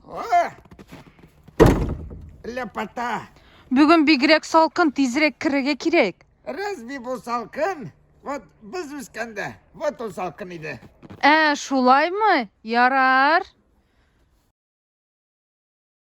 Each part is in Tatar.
О! Лепота! Бүген бигрәк салкын, тизрәк керергә кирәк. Разве бу салкын? Вот без үскәндә, вот ул салкын иде. Ә, шулаймы? Ярар.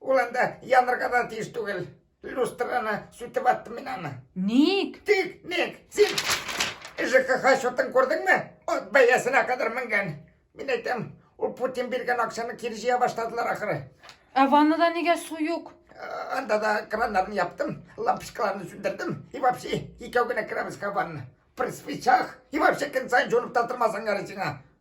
Ул анда янырга да тиеш түгел. Люстраны сүтеп аттым мин аны. Ник? Тик, ник, син ЖКХ счетын күрдеңме? Ат бәясенә кадәр менгән. Мин әйтәм, ул Путин биргән акчаны кире җыя башладылар ахыры. Ә ваннада нигә су юк? Э, Анда да краннарын яптым, лампочкаларны сүндердем. И вообще, икәү генә керәбез ка ванна. При свечах. И вообще, көн сайын җонып та тормасаң ярый сиңа.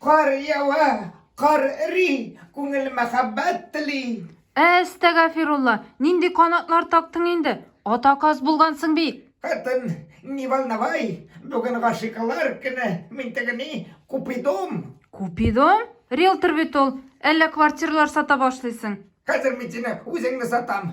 Кар ява, кар эри, күңел мәхәббәт тели. Әстәгафирулла, нинди канатлар тактың инде? Атаказ булгансың бит. Хатын, не волновай, бүген гашикалар көне, мин тегени купидом. Купидом? Риэлтор бит ул. Әллә квартиралар сата башлыйсың? Хәзер мин сине үзеңне сатам.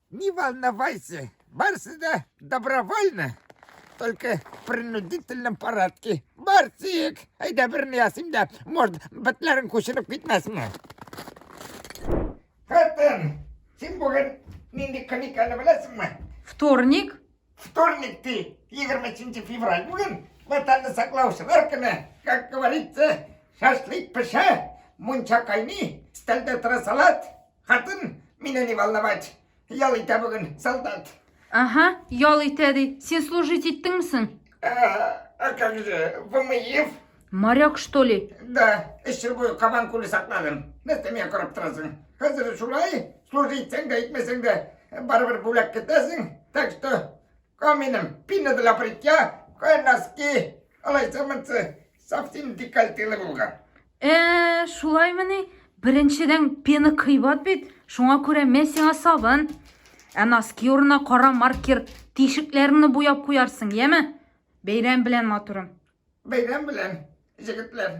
Не волновайся, бар сюда добровольно, только в принудительном порядке. Барсик, айда берне ясыйм да, может, бетләрен күчереп китмәсме? Хатын, син бүген нинди каниканы беләсеңме? Вторник? Вторник ты, 23 февраль бүген, ватанны саклаучылар көне, как говорится, шашлык пешә, мунча кайный, стәлдә тора салат, Хатын, мине не волновать. Ял итә бүген солдат. Ага, ял итә ди. Син служить иттеңме соң? А, а как же, Вамыев? Моряк, что ли? Да, эш буе кабан күле сакладым. Нәрсә миңа карап торасың? Хәзер шулай, служить итсәң дә, итмәсәң дә, барыбер бүләк көтәсең. Так что, каминым, пина для бритья, кое носки, алайса-мынсы, Совсем декольтелы булган. Ә, шулаймыни? Беренчедән пена кыйбат бит, шуңа күрә мә сиңа сабын. Ә носки урынына кара маркер тишекләреңне буяп куярсың, яме? Бәйрәм белән, матурым. Бәйрәм белән, җегетләр.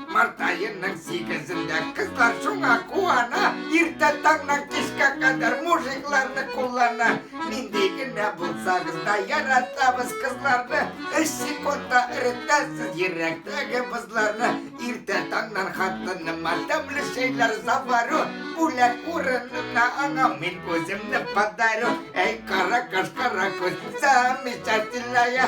Март айының сигезендә кызлар шуңа куана, иртә таңнан кичкә кадәр мужикларны куллана. Нинди генә булсагыз да яратабыз кызларны, өч секундта эретәсез йөрәктәге бозларны. Иртә таңнан хатыныма тәмле чәйләр заварю, бүләк урынына аңа мин үземне подарю. Әй, кара каш, кара күз, замечательная,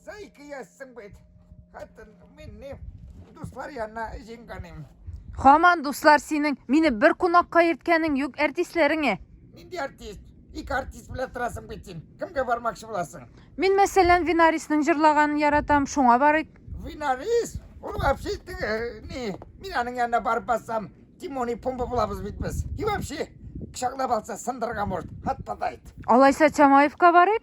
За ике ясың бит. Хатын минне дуслар янына җиңгәнем. Хаман дуслар синең мине бер кунакка йөрткәнең юк артистләреңә. Нинди артист? Ике артист белән торасың бит син. Кемгә бармакчы буласың? Мин мәсәлән Винарисның җырлаганын яратам, шуңа барыйк. Винарис? Ул вообще э, не, мин аның янына барып бассам, Тимони Пумба булабыз бит без. И вообще, кочаклап алса сындырырга может. Хатта да айт. Алайса Чамаевка барыйк.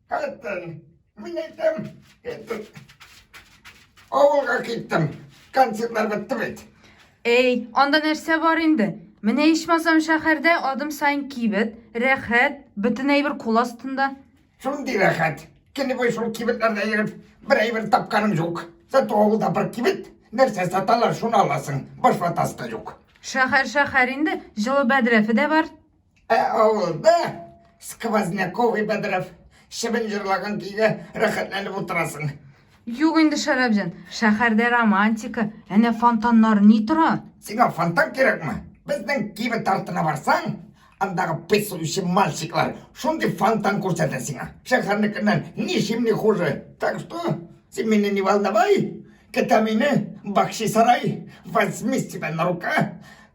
Кайттым. Мин әйтәм, әйтеп, авылга киттем. Концертлар бетте бит. Әй, анда нәрсә бар инде? Менә ичмасам шәһәрдә адым сайын кибет, рәхәт, бөтен әйбер кул астында. Шундый рәхәт. Кені бой шул кибетләрдә йөреп, бер әйбер тапканым юк. Зато авылда бер кибет, нәрсә саталар, шуны аласың. Баш ватасы да юк. Шәһәр шәһәр инде, җылы бәдрәфе дә бар. Ә авылда сквозняков и бәдрәф чебен җырлаган көйгә рәхәтләнеп утырасың. Юк инде, Шәрәпҗан, шәһәрдә романтика, әнә фонтаннар ни тора. Сиңа фонтан кирәкме? Безнең кибет артына барсаң, андагы песучий мальчиклар шундый фонтан күрсәтә сиңа. Шәһәрнекеннән ничим ни хуже. Так что, син мине не волновай, көтә мине Бакчисарай, возьми себя на рука,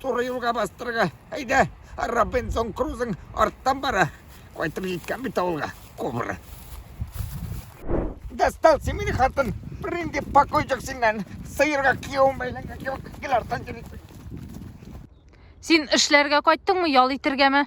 Туры юлга бастырга. Әйдә, Робинсон Крузың арттан бара. Кайтып җиткән бит авылга. Кубра. Достал син мине хатын. Бернинди покой юк синнән. Сыерга кияүем бәйләнгән кебек. Гел арттан йөрисең. Син эшләргә кайттыңмы, ял итергәме?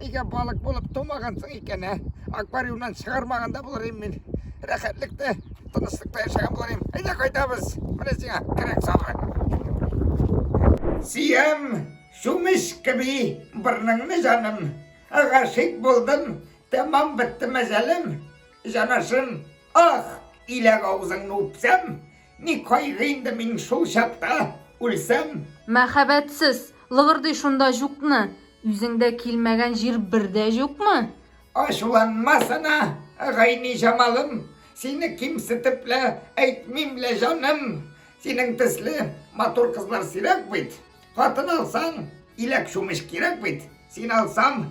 Нигә балык булып тумагансың икән, ә? Аквариумнан чыгармаган да булыр мин. Рәхәтлектә, тынычлыкта яшәгән булыр идем. Әйдә кайтабыз. Менә сиңа кирәк сабы. Сөям, чумеш кеби бырныңны җаным. Гашыйк булдым, тәмам бетте мәҗалем, җанашым. Ах, иләк авызыңны үпсәм, Ни кайгы инде мин шул чакта, үлсәм. Мәхәббәтсез, лыгырдый шунда җукны, Үзеңдә килмәгән җир бер дә җукмы? Ачуланма сына, гайни-җамалым, Сине кимсетеп лә әйтмим лә, җаным. Синең төсле матур кызлар сирәк бит, Хатын алсаң, иләк чумыч кирәк бит. Син алсам,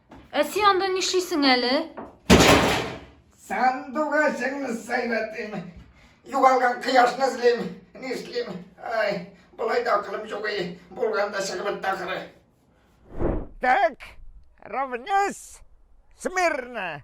Ә син анда нишлисең әле? Сандугачыңны сайлатыйм. Югалган кояшны эзлим. Нишлим? Ай, болай да акылым юк и. Булганда чыгып бетте ахыры. Так, равнясь, смирно.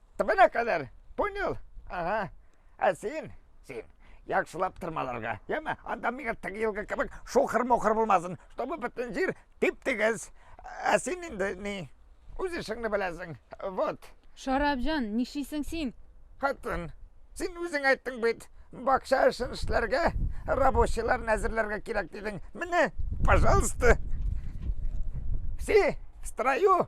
Тбына кадәр. Понял? Ага. Ә син, син, яхшылап тырмаларга, яме? Анда миңа теге елгы кебек шухыр-мухыр булмасын, чтобы бөтен җир тип-тигез. Ә син инде ни? Үз эшеңне беләсең. Вот. Шарапҗан, нишлисең син? Хатын, син үзең әйттең бит, бакча эшен эшләргә, рабочийларны әзерләргә кирәк дидең. Менә, пожалуйста. Все в строю.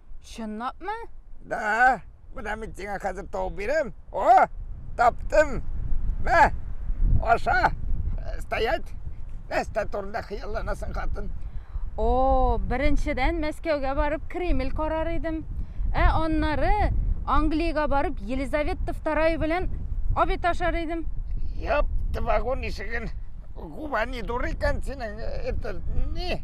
Чынлапмы? Да, менә мин сиңа хәзер табып бирәм. О, таптым. Мә, аша. Стоять. Нәрсә турында хыялланасың, хатын? О, беренчедән Мәскәүгә барып Кремль карар идем. Ә аннары Англиягә барып Елизавета II белән обед ашар идем. Япты вагон ишеген. Губани дурыкан синең, это, не,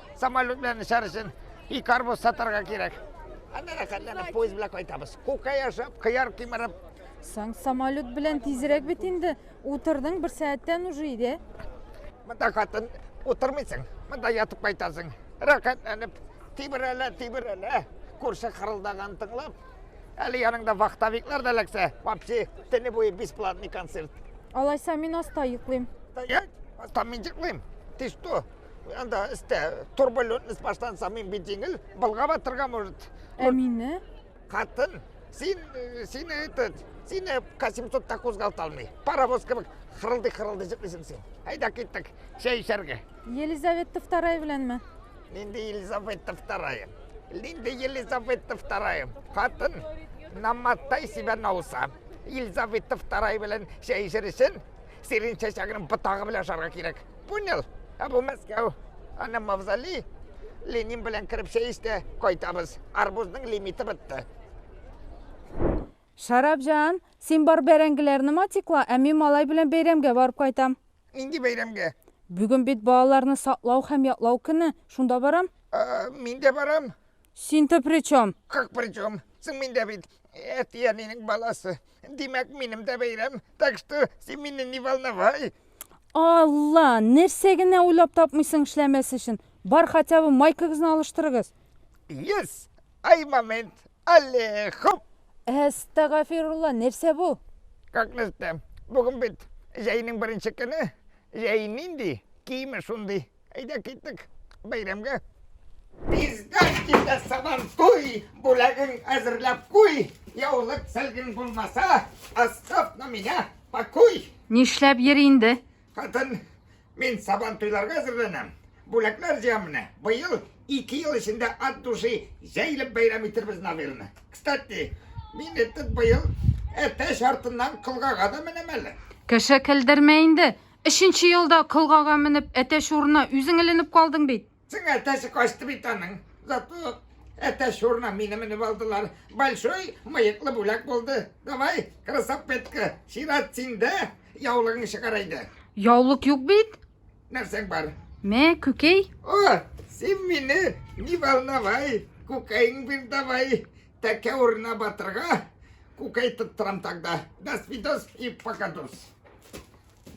самолет белән очар өчен и карбуз сатарга кирәк. Анда да хәлләнеп поезд белән кайтабыз. Күккә яшәп, кыяр кимереп. Соң самолет белән тизрәк бит инде. Утырдың бер сәгатьтән уже иде. Монда хатын утырмыйсың. Монда ятып кайтасың. Рәхәтләнеп, тибрәлә, тибрәлә. Күрше хырылдаган тыңлап. Әле яныңда вахтовиклар да ләксә. Вообще, тәне буе бесплатный концерт. Алайса мин аста йоклыйм. Стоять! Аста мин йоклыйм. Ты что? Анда истә турбулентность баштан самый бит җиңел, былга батырга может. Ә мине? Хатын, син э, сине этот, сине К700 та кузгалта алмый. Паровоз кебек хырылдый-хырылдый җитлисең син. Әйдә киттек, чәй эчәргә. Елизавета II беләнме? Нинди Елизавета II? Нинди Елизавета II? Хатын, наматтай себя на уса. Елизавета II белән чәй эчер өчен Сирень чәчәгенең ботагы белән ашарга кирәк. Понял? Ә бу Мәскәү. Аны мавзолей. Ленин белән кереп чәй эчте, кайтабыз. Арбузның лимиты бетте. Шарапҗан, син бар бәрәңгеләрне матикла, ә мин малай белән бәйрәмгә барып кайтам. Нинди бәйрәмгә? Бүген бит балаларны саклау һәм яклау көне, шунда барам. Ә, мин дә барам. Син-то при чем? Как при чем? Соң мин дә бит әтиәнинең баласы. Димәк, минем дә бәйрәм. Так что син мине не волновай. Алла, нәрсә генә уйлап тапмыйсың эшләмәс өчен. Бар хотя бы майкагызны алыштырыгыз. Yes! Ай момент! Алле, хоп! Әстәгафирулла, нәрсә бу? Как нәрсә? Бүген бит җәйнең беренче көне. Җәй нинди, киеме шундый. Әйдә киттек бәйрәмгә. Безгә килә сабан туй, бүләген әзерләп куй. Яулык сәлгин булмаса, асып на меня пакуй. Нишләп йөр инде? Хатын, мин сабан туйларга әзерләнәм. Бүләкләр җыям менә. Быел ике ел эчендә ат души җәйлеп бәйрәм итербез Навилне. Кстати, мин этеп быел әтәч артыннан кылгага да менәм әле. Кеше көлдермә инде. Өченче елда колгага менеп әтәч урына үзең эленеп калдың бит. Соң әтәсе качты бит аның. Зато әтәч урына мине менеп алдылар. Большой мыеклы бүләк булды. Давай, красавпетка, сират синдә яулыгың чыгар әйдә. Яулык юк бит. Нәрсәң бар? Мә, күкәй. О, син мине не волновай, күкәйең бир давай. Тәкә урына батырга күкәй тоттырам тогда. До свидос и покадос.